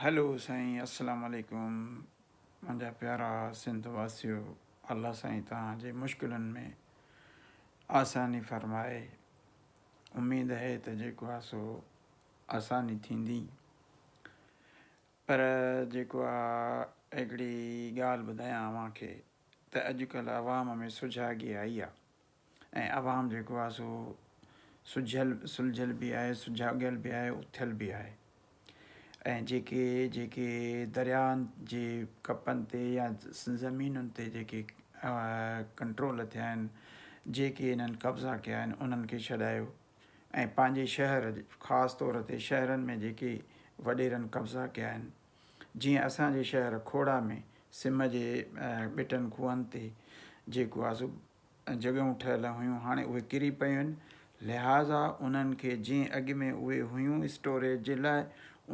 Hello سائين اسلام عليڪم منهنجا پيارا سنڌ واسيو الله سائين توهان جي مشڪلن ۾ آساني فرمائي اميد آهي ته جيڪو آهي سو آساني ٿيندي پر جيڪو آهي هڪڙي ڳالهه ٻڌايان اوهان کي ته اڄڪلهه عوام ۾ سجاڳي آئي آهي ۽ عوام جيڪو آهي سو سجهيل سلجهيل به آهي، سجاڳيل به آهي، اٿيل به آهي ۽ جيڪي جيڪي درياهن جي ڪپن تي يا زمينن تي جيڪي ڪنٽرول ٿيا آهن، جيڪي انهن قبضا ڪيا آهن انهن کي ڇڏايو ۽ پنهنجي شهر خاص طور تي شهرن ۾ جيڪي وڏيرن قبضا ڪيا آهن جيئن اسان جي شهر کوڙا ۾ سم جي ٻٽن کوهن تي جيڪو آهي سو جڳهيون ٺهيل هيون هاڻي اهي ڪري پيون آهن لهٰذا انهن کي جئين اڳ ۾ اهي هيون اسٽوريج جي لاء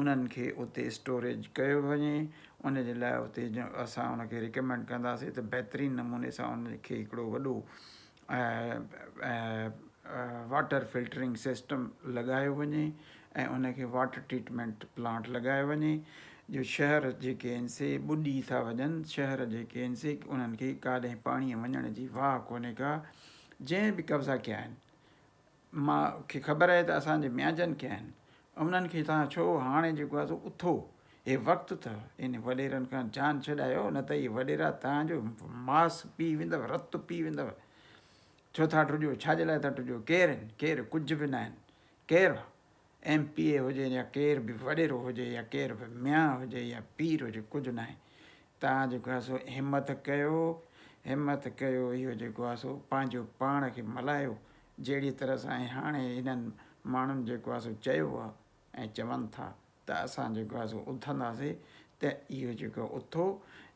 انهن کي اتي اسٽوريج ڪيو وڃي ان جي لاء اتي اسان ان کي ريڪمينڊ ڪنداسين ته بهترين نموني سان ان کي هڪڙو وڏو واٽر فلٽرنگ سسٽم لڳايو وڃي ۽ ان کي واٽر ٽريٽمينٽ پلانٽ لڳايو وڃي جو شهر جيڪي آهن سي ٻڏي ٿا وڃن شهر جيڪي آهن سي انهن کي ڪاڏهن پاڻي وڃڻ جي واهه ڪونهي ڪا جنهن به قبضا ڪيا آهن ماء کي خبر آهي ته اسان جي ميانجن ڪيا آهن انهن کي تان ڇو هاڻي جيڪو آهي سو اٿو هي وقت اٿو ان وڏيرن کان جان ڇڏايو نه ته هي وڏيرا تان جو ماس پي ويندو رت پي ويندو ڇو ٿا ٽڏيو ڇا جي لاء ٿا ٽڏيو ڪير آهن ڪير ڪجهه به نه آهن ڪير به ايم پي اي هجي يا ڪير به وڏيرو هجي يا ڪير به ميان هجي يا پير هجي ڪجهه ناهي تان جيڪو آهي سو همٿ ڪيو همٿ ڪيو اهو جيڪو آهي سو پنهنجو پاڻ کي ملهايو جهڙي طرح سان هاڻي هنن ماڻهن جيڪو آهي سو چيو آهي ۽ چون ٿا ته اسان جيڪو آهي سو اٿنداسي ته اهو جيڪو اٿو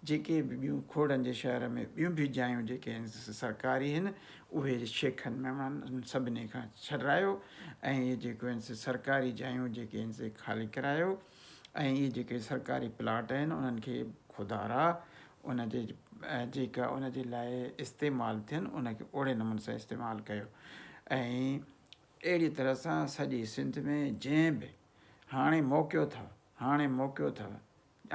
جيڪي به ٻيون کوڙن جي شهر ۾ ٻيون به جايون جيڪي هن سرڪاري هن اهي شيخن ميمڻن انهن سڀني کان ڇڏرايو ۽ اهي جيڪو هن سرڪاري جايون جيڪي هن سي خالي ڪرايو ۽ اهي جيڪي سرڪاري پلاٽ هن انهن کي خدارا ان جي جيڪا ان جي لاء استعمال ٿين ان کي اوڙي نمون سان استعمال ڪيو ۽ اهڙي طرح سان سڄي سنڌ ۾ جنهن به هاڻي موکيو ٿا، هاڻي موکيو ٿا،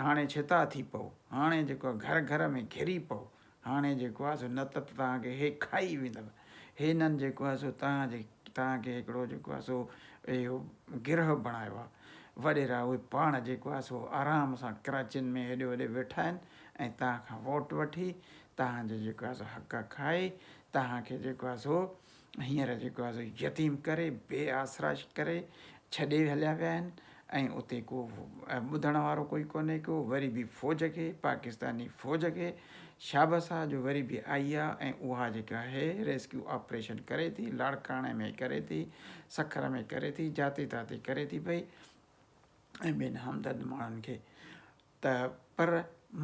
هاڻي ڇتا ٿي پئو، هاڻي جيڪو آهي گهر گهر ۾ گهري پئو، هاڻي جيڪو آهي سو نه ته توهان کي هي کائي ويندؤ، هنن جيڪو آهي سو توهان جي توهان کي هڪڙو جيڪو آهي سو اهو گرهه بڻايو آهي. وڏيرا اهي پاڻ جيڪو آهي سو آرام سان ڪراچين ۾ هيڏي هوڏي ويٺا آهن ۽ توهان کان ووٽ وٺي توهان جي جيڪو آهي سو حق کائي توهان کي جيڪو آهي سو هينئر جيڪو آهي سو يتيم ڪري، بي آسرا ڪري ڇڏي هليا ويا آهن ۽ اتي ڪو ٻڌڻ وارو ڪوئي ڪونهي ڪو وري به فوج کي پاڪستاني فوج کي شابس آهي جو وري به آئي آهي ۽ اها جيڪا آهي ريسڪيو آپريشن ڪري ٿي لاڙڪاڻي ۾ ڪري ٿي سکر ۾ ڪري ٿي جاتي تاتي ڪري ٿي پئي ۽ ٻين همدرد ماڻهن کي ته پر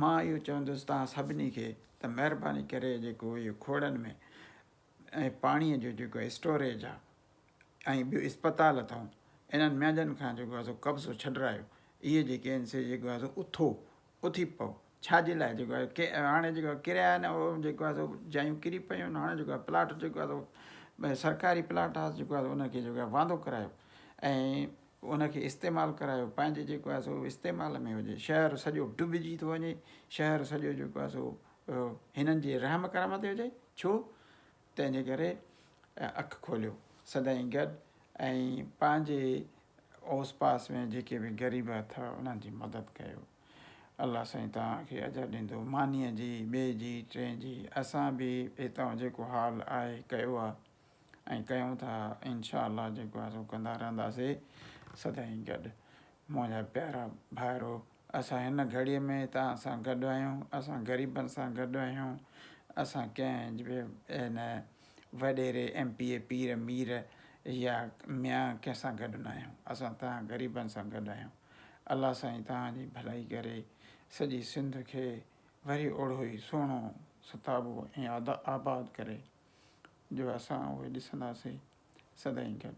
مان اهو چوندس تان سڀني کي ته مهرباني ڪري جيڪو اهو کوڙن ۾ ۽ پاڻيء جو جيڪو اسٽوريج آ ۽ ٻيو اسپتال اٿئون انهن مينهجن کان جيڪو آ سو قبضو ڇڏرايو اهي جيڪي آهن سي جيڪو آ سو اٿو اٿي پئو ڇا جي لاء جيڪو آهي ڪي هاڻي جيڪو آهي ڪريا آهن اهو جيڪو آهي سو جايون ڪري پيون آهن هاڻي جيڪو آهي پلاٽ جيڪو آهي سو سرڪاري پلاٽ آهي جيڪو آهي سو ان کي جيڪو آهي واندو ڪرايو ۽ ان کي استعمال ڪرايو پنهنجي جيڪو آهي سو استعمال ۾ هجي شهر سڄو ڊوبجي ٿو وڃي شهر سڄو جيڪو آهي سو اهو هنن جي رحم ڪرم تي هجي، ڇو تنهن جي ڪري اک کوليو سدائين گڏ ۽ پنهنجي اوس پاس ۾ جيڪي به غريب اٿئو انهن جي مدد ڪيو. الله سائين توهان کي اجر ڏيندو مانيء جي، ٻئي جي، ٽئين جي اسان به هتئون جيڪو حال آهي ڪيو آهي ۽ ڪيون ٿا انشاء الله جيڪو آهي سو ڪندا رهنداسي سدائين گڏ منهنجا پيارا ڀائرو. اسان هن گهڙيء ۾ توهان سان گڏ آهيون، اسان غريبن سان گڏ آهيون، اسان ڪنهن به هن وڏيري، ايم پي اي، پير، مير يا ميان ڪنهن سان گڏ نه آهيون، اسان توهان غريبن سان گڏ آهيون، الله سائين توهان جي ڀلائي ڪري، سڄي سنڌ کي وري اوڙو ئي سهڻو، ستابو ۽ آباد ڪري، جو اسان اهي ڏسنداسين سدائين گڏ.